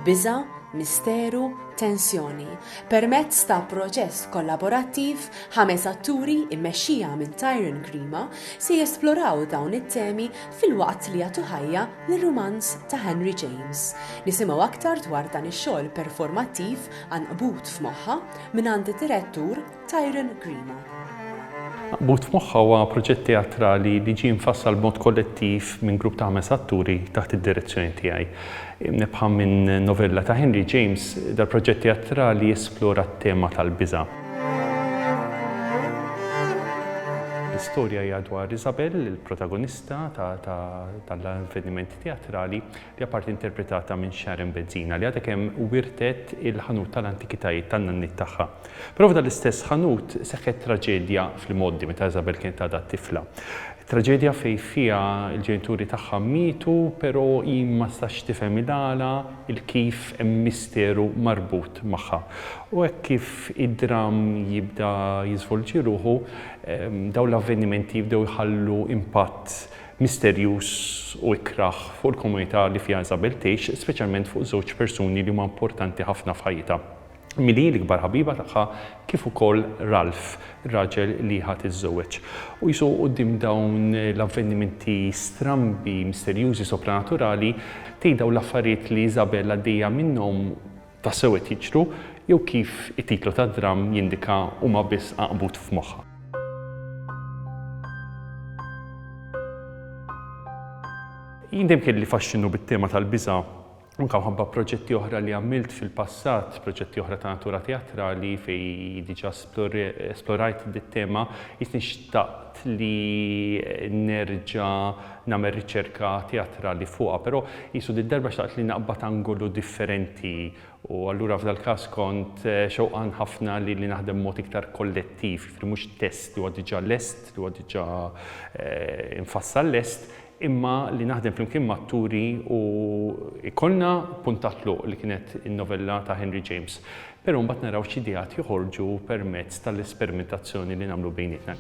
biża', misteru, tensjoni. Permezz ta' proċess kollaborattiv, ħames atturi immexxija minn Tyron Grima se jesploraw dawn it-temi fil-waqt li jagħtu ħajja lir-rumanz ta' Henry James. Nisimgħu aktar dwar dan ix-xogħol performattiv anqbut f'moħħa mingħand id-Direttur Tyrone Grima. Maqbud f'moħħha huwa proġett teatrali li ġie mfassal b'mod kollettiv minn grupp ta' ħames atturi taħt id-direzzjoni tiegħi. Mnebbħa minn novella ta' Henry James, dal-proġett teatrali jesplora t-tema tal-biża'. L-istorja hija dwar Isabel, il-protagonista tal-avvenimenti teatrali, li apparti interpretata minn Sharon Bezzina li għadha kemm wirtet il-ħanut tal-antikitajiet tan-nanniet tagħha. Però f'dan l-istess ħanut seħħet traġedja fl-imgħoddi meta Isabel kienet għadha tifla. Traġedja fejn fiha l-ġenituri tagħha mietu però hi ma stax tifhem il-għala, il-kif hemm misteru marbut magħha. U hekk kif id-dramm jibda jiżvolġi ruħu, dawn l-avvenimenti jibdew iħallu impatt misterjuż u ikrah fuq il-komunità li fiha Isabel tgħix, speċjalment fuq żewġ persuni li huma importanti ħafna f'ħajjitha, milli hi l-ikbar ħabiba tagħha kif ukoll Ralph, ir-raġel li hi ħa tiżżewweġ. U qisu quddiem dawn l-avvenimenti strambi, misterjużi, sopranaturali, tgħid dawn l-affarijiet li Isabel għaddejja minnhom, tassew qed jiġru jew kif it-titlu tad-dramm jindika huma biss għaqbut f'moħħha. Jien dejjem kelli faxxinu bit-tema tal-biża' anke mħabba proġetti oħra li għamilt fil-passat, proġetti oħra ta' natura teatrali fej diġa esplorajt dit-tema, jisni xtaqt li nerġa nagħmel riċerka teatrali fuqha, però qisu did-darba xtaqt li naqbad angolu differenti u allura f'dal-każ kont xewqan ħafna li li naħdem b'mod iktar kollettiv, jiġifieri mhux test li huwa diġà lest, li huwa diġà mfassal lest, imma li naħdem flimkien m'atturi u jkollna punt ta' tluq li kienet in-novella ta' Henry James. Però mbagħad naraw x'ideat joħorġu permezz tal-esperimentazzjoni li nagħmlu bejnietna.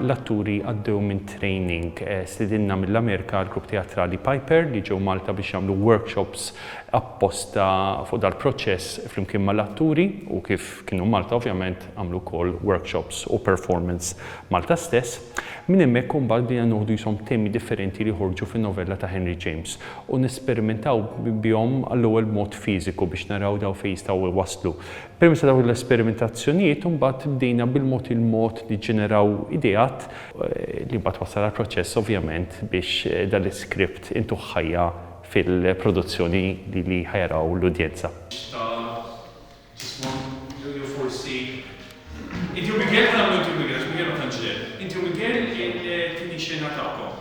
l-atturi għaddew minn training eh, sidinna mill-Amerika għal grupp teatrali Piper li ġew Malta biex jagħmlu workshops apposta fuq dal-proċess flimkien mal-atturi u kif kienu Malta ovvjament Għamlu wkoll workshops u performance Malta stess. Minn hemmhekk u mbagħad bdejna noħdu qishom temi differenti li joħorġu fin-novella ta' Henry James u nesperimentaw bihom għall-ewwel b'mod fiżiku biex naraw dawn fejn jistgħu jwasslu. Permezz ta' dawn l-esperimentazzjonijiet u mbagħad bdejna bil-mod il-mod niġġeneraw ideat li mbagħad wassal għall-proċess ovvjament biex dan l-iskript intuh ħajja fil-produzzjoni li ħa jaraw l-udjenza. Jismu Julio forsi. Inti u Miguel kien għamiltu u Miguel għax Miguel ma tantx deher. Inti u Miguel il-tieni xena tagħkom.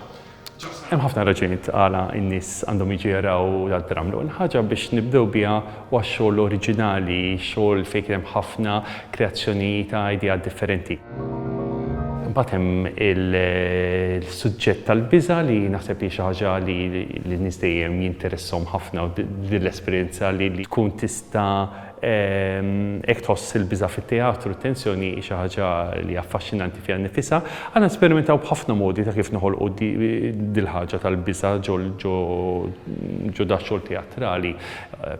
Ġabsa. Hemm ħafna raġunijiet għala n-nies għandhom jiġu jaraw dal-programm. L-ewwel ħaġa biex nibdew biha huwa x-xogħol oriġinali, xogħol fejn kien hemm ħafna kreazzjoni ta' ideat differenti. Imbagħad hemm il-suġġett tal-biża' li naħseb li hi xi ħaġa li lin-nies dejjem jinteressahom ħafna u din l-esperjenza li tkun tista' ta' Hekk tħoss il-biża' fit-teatru, t-tensjoni hi xi ħaġa li hija affaxxinanti fiha nnifisha. Aħna nsperimentaw b'ħafna modi ta' kif noħolqu dil-ħaġa tal-biża' ġo dax-xogħol teatrali,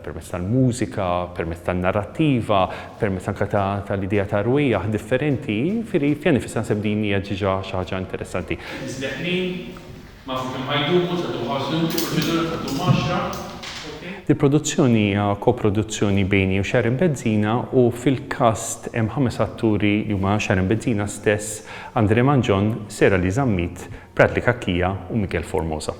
permezz tal-mużika, permezz tan-narrattiva, permezz anke tal-idea ta' rwejjaħ differenti, jiġifieri fiha nnifisha naħseb din hija diġà xi ħaġa interessanti. Isbeħ min? Massimu Ħajdumu, Sadu Ħażun, Il-proċedura se ddum għaxra, ok. Il-produzzjoni hija koproduzzjoni bejni u Sharon Bezzina u fil-cast hemm ħames atturi li huma Sharon Bezzina stess, Andrè Mangion, Sera Lee Zammit, Bradley Cachia u Miguel Formosa.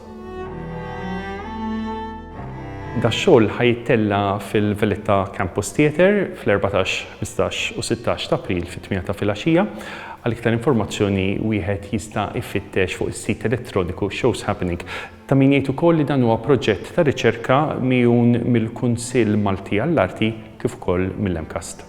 Dax-xogħol ħa jittella' fil-Valletta Campus Theatre fl-erbatax, ħmistax u sittax t'April fit-tmiena ta' filgħaxija. Għal iktar informazzjoni wieħed jista' jfittex fuq is-sit elettroniku Shows Happening. Ta' min jgħid ukoll li dan huwa proġett ta' riċerka migħun mill-Kunsill Malti għall-Arti kif ukoll mill-MCAST.